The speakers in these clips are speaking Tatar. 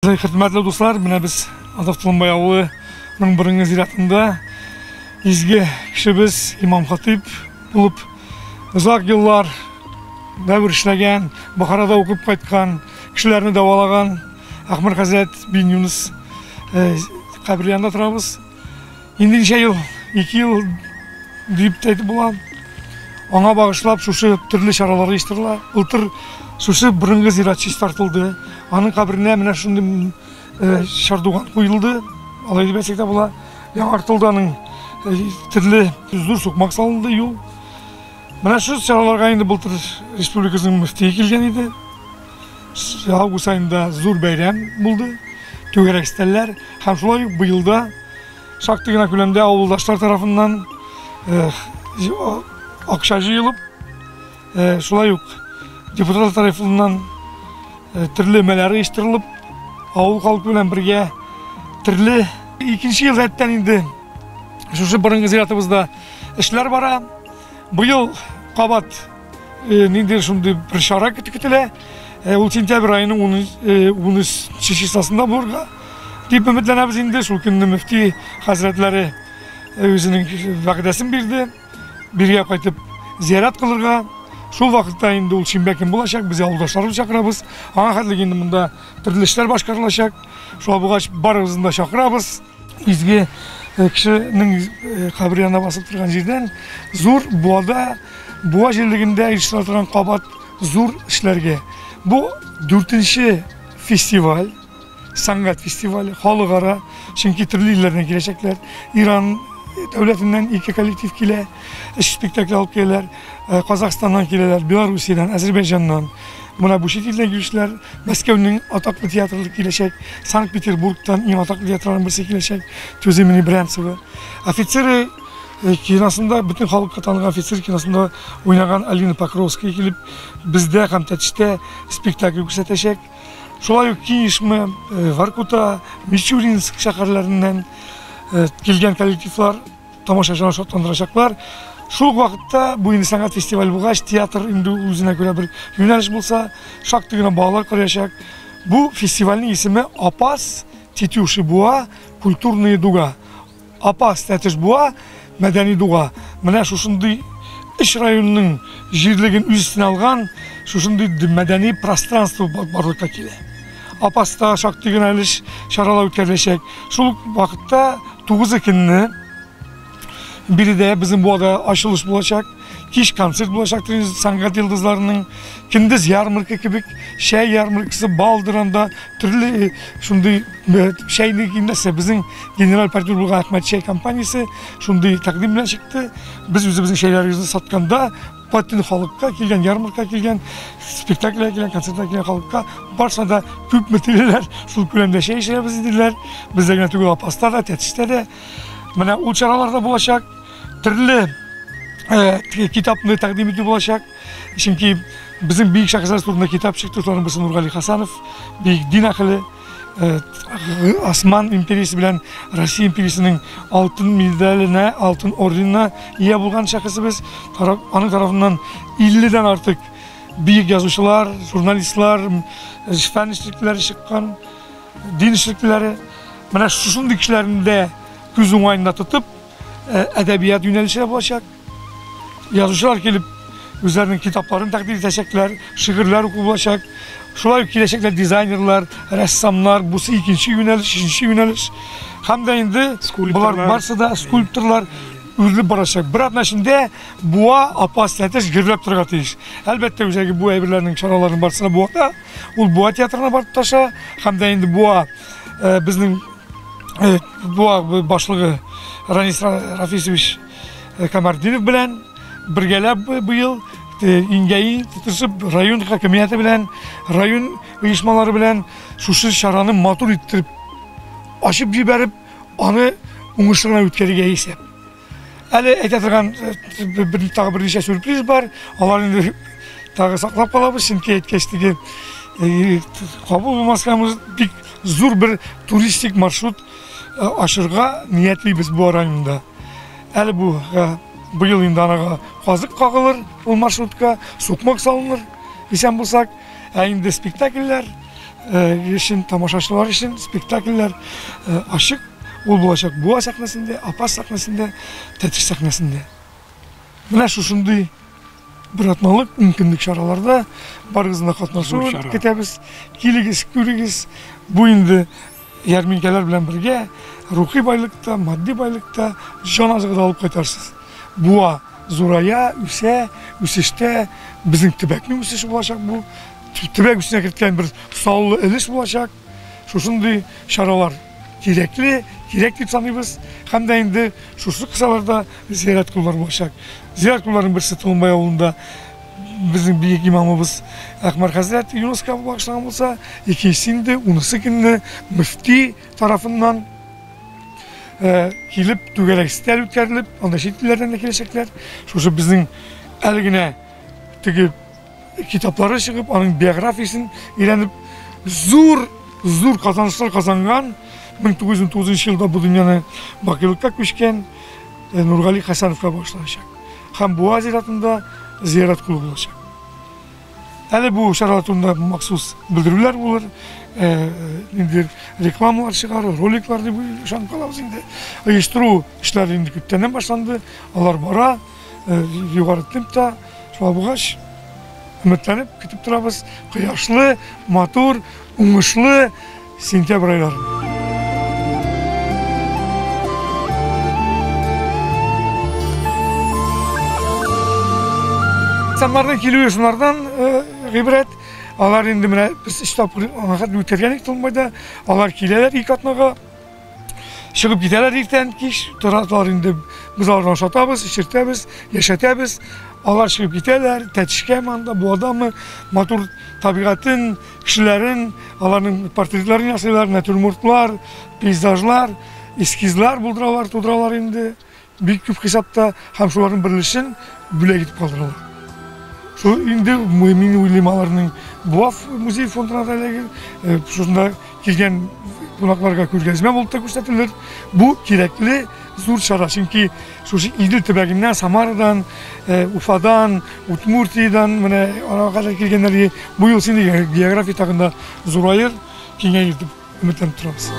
Хөрмәтле дуслар, менә без Азат Тулымбай авылының борынгы зиратында изге кешебез имам хатип булып озак еллар дәвер эшләгән, Бохарада укып кайткан, кешеләрне дәвалаган Әхмәр хәзрәт бин Юныс кабере янында торабыз. Инде ничә ел, ике ел дип тә әйтеп була. Аңа багышлап шушы төрле чаралар оештырыла. Былтыр шушы борынгы зират чистартылды. Аның каберенә менә шундый э, чардуган куелды. Алай дип әйтсәк тә була. Яңартылды аның э, төрле зур сукмак салынды юл. Менә шу чараларга инде былтыр республикабызның мөфтие килгән иде. август айында зур бәйрәм булды, түгәрәк стәлләр һәм шулай ук быел да шактый гына күләмдә авылдашлар тарафыннан акча җыелып, шулай ук депутатлар тарафыннан төрле мәләр оештырылып, авыл халкы белән бергә төрле икенче ел рәттән инде шушы борынгы зиратыбызда эшләр бара. Быел кабат э, ниндидер шундый бер чара көтелә. Э, ул сентябрь аеның 13 числосында булырга дип өметләнәбез инде. Шул көнне мөфти хәзрәтләре үзенең вәгъдәсен бирде. Биргә кайтып зиярат кылырга. Шул вакытта инде ул шимбә көн булачак, без авылдашларыбыз чакырабыз. Аңа хәтле инде монда төрле эшләр башкарылачак. Шуңа булгач барыгызны да чакырабыз. Изге кешенең кабере янына басып торган җирдән зур буада, буа җирлегендә оештыра торган кабат зур эшләргә. Бу дүртенче фестиваль, сәнгать фестивале, халыкара, чөнки төрле илләрдән киләчәкләр. Иран дәүләтеннән ике коллектив килә, өч спектакль алып киләләр. Э, Казахстаннан киләләр, Белоруссиядән, Азербайҗаннан. Менә бу чит илдән килүчеләр Мәскәүнең атаклы театры киләчәк, Санкт-Петербургтан иң атаклы театрларның берсе киләчәк, Тюземини Брянцева. Офицеры э, киносында бөтен халыкка танылган офицер киносында уйнаган Алина Покровская килеп бездә һәм Тәтештә спектакль күрсәтәчәк. Шулай ук Кинешме, э, Воркута, Мичуринск шәһәрләреннән килгән коллективлар Тамашачыны шатландырачаклар. Шул ук вакытта бу инде сәнгать фестиваль булгач, театр инде үзенә күрә бер юнәлеш булса, шактый гына балалар карыячак. Бу фестивальнең исеме Апас Тетюши Буа культурные дуга. Апас Тәтеш Буа мәдәни дуга. Менә шушындый үч районының җирлеген үз өстенә алган шушындый мәдәни пространство барлыкка килә. Апаста шактый гына өлеш чаралар үткәреләчәк. Шул ук вакытта 9 көнне биредә безнең буада ачылыш булачак. Кич концерт булачак сәнгать йолдызларының. Көндез ярмарка кебек чәй ярмаркасы, бал дыранда төрле шундый чәйне кимдәсе безнең генераль партнер булган Әхмәт чәй компаниясе шундый тәкъдим белән чыкты. Без үзебезнең чәйләребезне сатканда Бөтен халыкка килгән, ярмарка килгән, спектакльгә килгән, концертка килгән халыкка барсына да күпме телиләр, шул күләмдә чәй эчәбез диделәр. Бездә генә түгел, Апаста да, Тәтештә дә. Менә ул чаралар да булачак. Төрле э, китапны тәкъдим итү булачак. Чөнки безнең бөек шәхесләр турында китап чыкты, шуларның берсе Нургали Хасанов, бөек дин әһеле. Осман империясе белән Россия империясенең алтын медаленә, алтын орденына ия булган шәхесебез. Аның тарафыннан 50 дән артык бөек язучылар, журналистлар, фән эшлеклеләре чыккан, дин эшлеклеләре. Менә шушындый кешеләрне дә күз уңаенда тотып, әдәбият юнәлеше булачак. Язучылар килеп, үзләренең китапларын тәкъдим итәчәкләр, шигырьләр уку булачак. Шулай ук киләчәкләр дизайнерлар, рәссамнар, бусы икенче юнәлеш, өченче юнәлеш. Һәм дә инде болар барсы да скульпторлар үрелеп барачак. Бер атна эчендә буа апас тәтеш гөрләп торырга тиеш. Әлбәттә, үзәге бу әйберләрнең чараларын барсы да буада. Ул буа театрына барып таша, һәм дә инде буа безнең буа башлыгы Ранис Рафисович Камардинов белән бергәләп быел иңгәи тотышып район хакимияте белән, район оешмалары белән шушы чараны матур иттереп ачып җибәреп, аны уңышлы гына үткәрергә исәп. Әле әйтә торган бер тагы берничә сюрприз бар. Алар инде тагы саклап калабыз, чөнки әйткәч теге кабул булмаска бик зур бер туристик маршрут Ашырга ниятлибез бу районда. Әле бу быел инде анага казык кагылыр, ул маршрутка сукмак салыныр, исән булсак. Ә инде спектакльләр өчен, тамашачылар өчен спектакльләр ачык. Ул булачак Буа сәхнәсендә, Апас сәхнәсендә, Тәтеш сәхнәсендә. Менә шушындый бер атналык мөмкинлек чараларда барыгызны катнашуын көтәбез. Килегез, күрегез. Бу инде Ярминкәләр белән бергә рухи байлык та, матди байлык та, җан азыгы да алып кайтарсыз. Буа зурая, үсә, үсештә безнең төбәкнең үсеше булачак бу. Төбәк үсешенә керткән бер саллы өлеш булачак. Шушындый чаралар кирәкле, кирәк дип саныйбыз. Һәм дә инде шушы кысаларда зиярат куллары булачак. Зиярат кулларының берсе Толымбай авылында Безнең бөек имамыбыз Әхмәр хәзрәт ЮНЕСКО багышлаган булса, икенчесе инде унысы көнне мөфти тарафыннан килеп түгәрәк өстәл үткәрелеп, анда чит илләрдән дә киләчәкләр. Шушы безнең әле генә теге китаплары чыгып, аның биографиясен өйрәнеп, зур зур казанышлар казанган 1909 елда бу дөньяны бакыйлыкка күчкән Нургали Хәсәновка багышланачак. Һәм Буа зиратында зиярәт кылу булачак. Әле бу чаралар турында махсус белдерүләр булыр, ниндидер рекламалар чыгар, роликлар дип ышанып калабыз инде. Оештыру эшләре инде күптәннән башланды, алар бара, югары темпта. Шулай булгач, өметләнеп көтеп торабыз. Кояшлы, матур, уңышлы Сентябрь айлары. Самарның килүе шунардан гыйбрәт. Алар инде менә без өч тапкыр аңа хәтле үтергән идек Тулмайда. Алар киләләр ике атнага. Чыгып китәләр иртән, кич, торалар инде. Без аларны ашатабыз, эчертәбез, яшәтәбез. Алар чыгып китәләр, тәтешкә манда, бу адамы, матур табигатын, кешеләрен, аларның портретларын ясыйлар, натюрмортлар, пейзажлар, эскизлар булдыралар, тудыралар инде. Бик күп хисапта һәм шуларның беренчесен бүләк итеп калдыралар. Шул инде мин уйлыйм аларның Буав музей фондына да эләгер, э, шунда килгән кунакларга күргәзмә булып та күрсәтелер. Бу кирәкле зур чара, чөнки шушы Идел төбәгеннән, Самарадан, э, Уфадан, Удмуртиядән менә арага кадәр килгәннәр. Бу ел син география тагында зураер, киңәер дип. өметләнеп торабыз.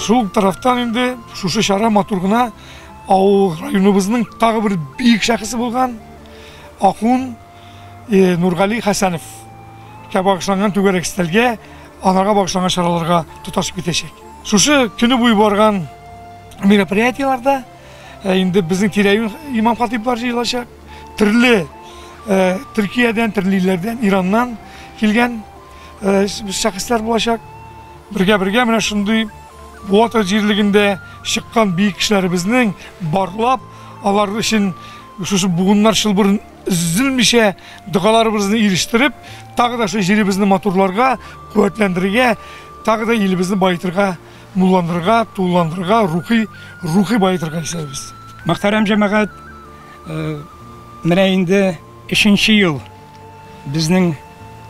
Шул ук тарафтан инде шушы чара матур гына авыл районыбызның тагы бер биек шәхесе булган Акун э, Нургали Хәсәнов ка багышланган түгәрәк стәлгә анарга багышланган чараларга тоташып китәчәк. Шушы көне буе барган мероприятиеләрдә э, инде безнең тирә-юнь имам-хатиблар җыелачак. төрле Төркиядән, төрле илләрдән, Ираннан килгән шәхесләр булачак. Бергә-бергә менә шундый Буата җирлегендә чыккан биек кешеләребезнең барлап, алар өчен шушы буыннар чылбырын өзелмичә догаларыбызны ирештереп, тагы да шул җиребезне матурларга, куәтләндерергә, тагы да илебезне баетырга Нурландырырга, тулыландырырга, рухи, рухи баетырга исәбез. Мөхтәрәм җәмәгать, менә инде өченче ел безнең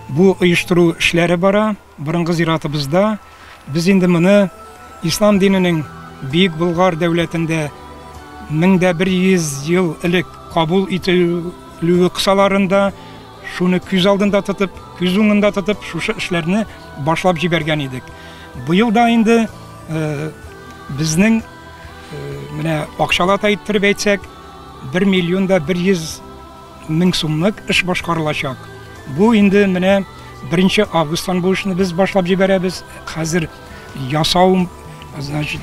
бу оештыру эшләре бара. Борынгы зиратыбызда без инде моны ислам диненең Бөек Болгар дәүләтендә 1100 ел элек кабул ителүе кысаларында Шуны күз алдында тотып, күз уңында тотып, шушы эшләрне башлап җибәргән идек. Быел да инде э, безнең э, менә акчалата иттереп әйтсәк, 1 миллион да 100 мең сумлык эш башкарылачак. Бу инде менә 1 августтан бу эшне без башлап җибәрәбез. Хәзер ясау, значит,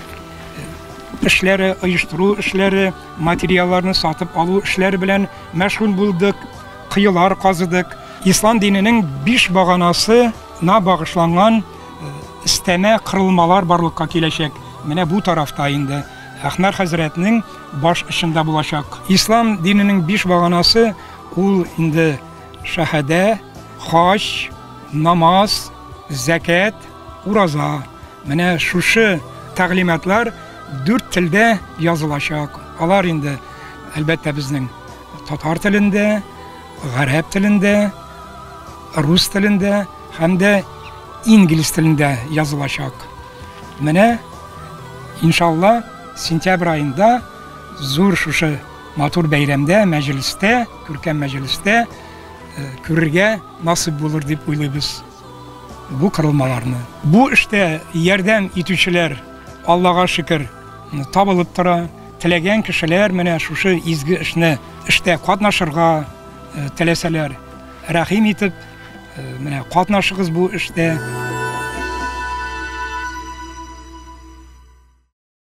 эшләре, оештыру эшләре, материалларны сатып алу эшләре белән мәшгуль булдык. коелар казыдык. Ислам диненең биш баганасына багышланган өстәмә кырылмалар барлыкка киләчәк. Менә бу тарафта инде Әхмәр хәзрәтнең баш очында булачак. Ислам диненең биш баганасы ул инде шәһәдә, хаҗ, намаз, зәкят, ураза. Менә шушы тәгълиматлар дүрт телдә язылачак. Алар инде, әлбәттә, безнең Татар телендә, гарәп телендә, рус телендә һәм дә инглиз телендә язылачак. Менә иншалла сентябрь айында зур шушы матур бәйрәмдә, мәҗлестә, күркәм мәҗлестә э, күрергә насыйп булыр дип уйлыйбыз бу корылмаларны. Бу эштә ярдәм итүчеләр Аллага шөкер табылып тора. Теләгән кешеләр менә шушы изге эшне эштә катнашырга теләсәләр, рәхим итеп, менә катнашыгыз бу эштә.